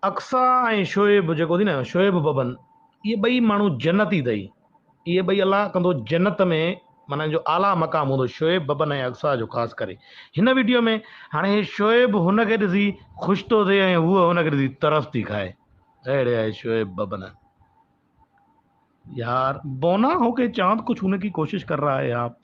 اقصيٰ ۽ شعيب جيڪو اٿئي نه شعيب ببن اهي ٻئي ماڻهو جنتي اٿئي اهي ٻئي الله ڪندو جنت ۾ معنيٰ ان جو اعليٰ مقام هوندو شعيب ببن ۽ اقصيٰ جو خاص ڪري هن ويڊيو ۾ هاڻي هي شعيب هن کي ڏسي خوش ٿو ٿئي ۽ هوء هن کي ڏسي ترس ٿي کائي اهڙي آهي شعيب ببن يار بونا هو ڪي چاند ڪجهه هوني ڪي ڪوشش ڪر رها هي آپ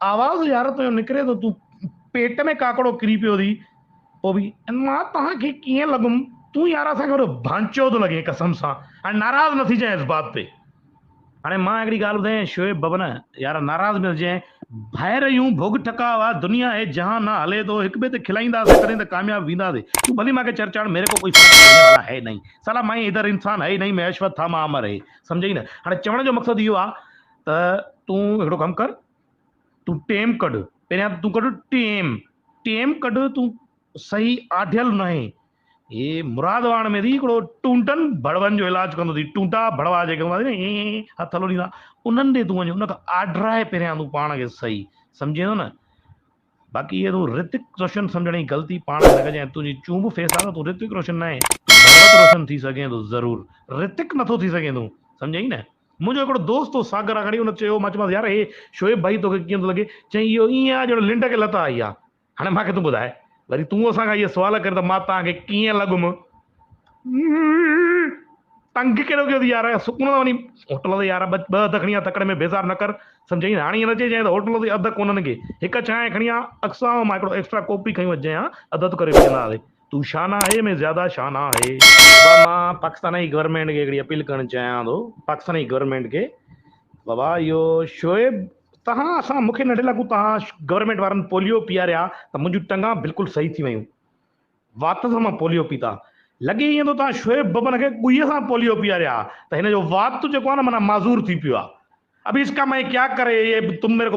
آواز يار تنهنجو نڪري ٿو تون پيٽ ۾ ڪاڪڙو ڪري پيو ٿي پوء به مان توهان کي ڪيئن لڳم تون يار اسان کي وڏو ڀانچو ٿو لڳين قسم سان هاڻي ناراض نه ٿيجانء اس بات تي هاڻي مان هڪڙي ڳالهه ٻڌايانء شعيب بابا نه يار ناراض نه ٿيجانء ڀائر اهو ڀوڳ ٺڪاء آ دنيا هي جهان نه هلي ٿو هڪ ٻئي تي کلائينداسين تڏهن ته ڪامياب وينداسين تون ڀلي مان کي چر چاڙهه ميري ڪو ڪوئي فرق پڙني والا هي نهين سالا ماهي ادھر انسان هي نهين مين اشوت ٿا مان امر هي سمجهئي نه هاڻي چوڻ جو مقصد اهو آ ته تون هڪڙو ڪم ڪر تون ٽيم ڪڍ پهريان تون ڪڍ ٽيم ٽيم ڪڍ تون صحيح آڍيل ناهي هي مراد واڻ ۾ ٿي هڪڙو ٽونٽن ڀڙون جو علاج ڪندو ٿي ٽونٽا ڀڙوا جيڪي هوندا آهن ائين هٿ لوڏيندا انهن ڏي تون وڃ ان کان آڍرائي پهريان تون پاڻ کي صحيح سمجهين ٿو نه باقي هي تون رتڪ روشن سمجهڻ جي غلطي پاڻ نه ڪجين تنهنجي چونب فيس آ نه تون رتڪ روشن ناهين تون ڀڳت روشن ٿي سگهين ٿو ضرور رتڪ نٿو ٿي سگهين تون سمجهين نه منهنجو هڪڙو دوست هو ساگر آگاڙي ان چيو مان چيومانس يار هي شعيب ڀائي توکي ڪيئن ٿو لڳي چئين اهو ائين آ جهڙو لنڊ کي لت آئي آ هاڻي مان کي تون ٻڌاء وري تون اسان کان اهي سوال ڪرين ته مان توهان کي ڪيئن لڳم تنگ ڪهڙو ڪيو اٿئي يار، سڪون سان وڃي هوٽل تي يار ٻه اڌ کڻي آ، تڪڙ ۾ بيزار نه ڪر. سمجهيائين، هاڻي ائين نه چئجانء ته هوٽل تي اڌ ڪونهن ڪي، هڪ چانهه کڻي آ، اڪثر مان هڪڙو ايڪسٽرا ڪوپ به کڻي وڃجانء ها، اڌ اڌ ڪري پيئندا هئاسين. تون شانه آهي ۾ زياده شانه آهي. بابا مان پاڪستاني گورنمينٽ کي هڪڙي اپيل ڪرڻ چاهيان ٿو، پاڪستاني گورنمينٽ کي، بابا اهو شعيب تهان اسان مون کي ننڍي لاکو تهان گورنمينٽ وارن پوليو پياريا ته منهنجون ٽنگان بلڪل صحيح ٿي ويون. وات سان مان پوليو پيتا. لڳي ائين ٿو توهان شعيب ببن کي ڳويء سان پوليو پياريو آهي ته هن جو وات جيڪو آهي نه معنيٰ معذور ٿي پيو آهي. اب اس ڪا مين ڪيا ڪري، يه تم ميري ڪو.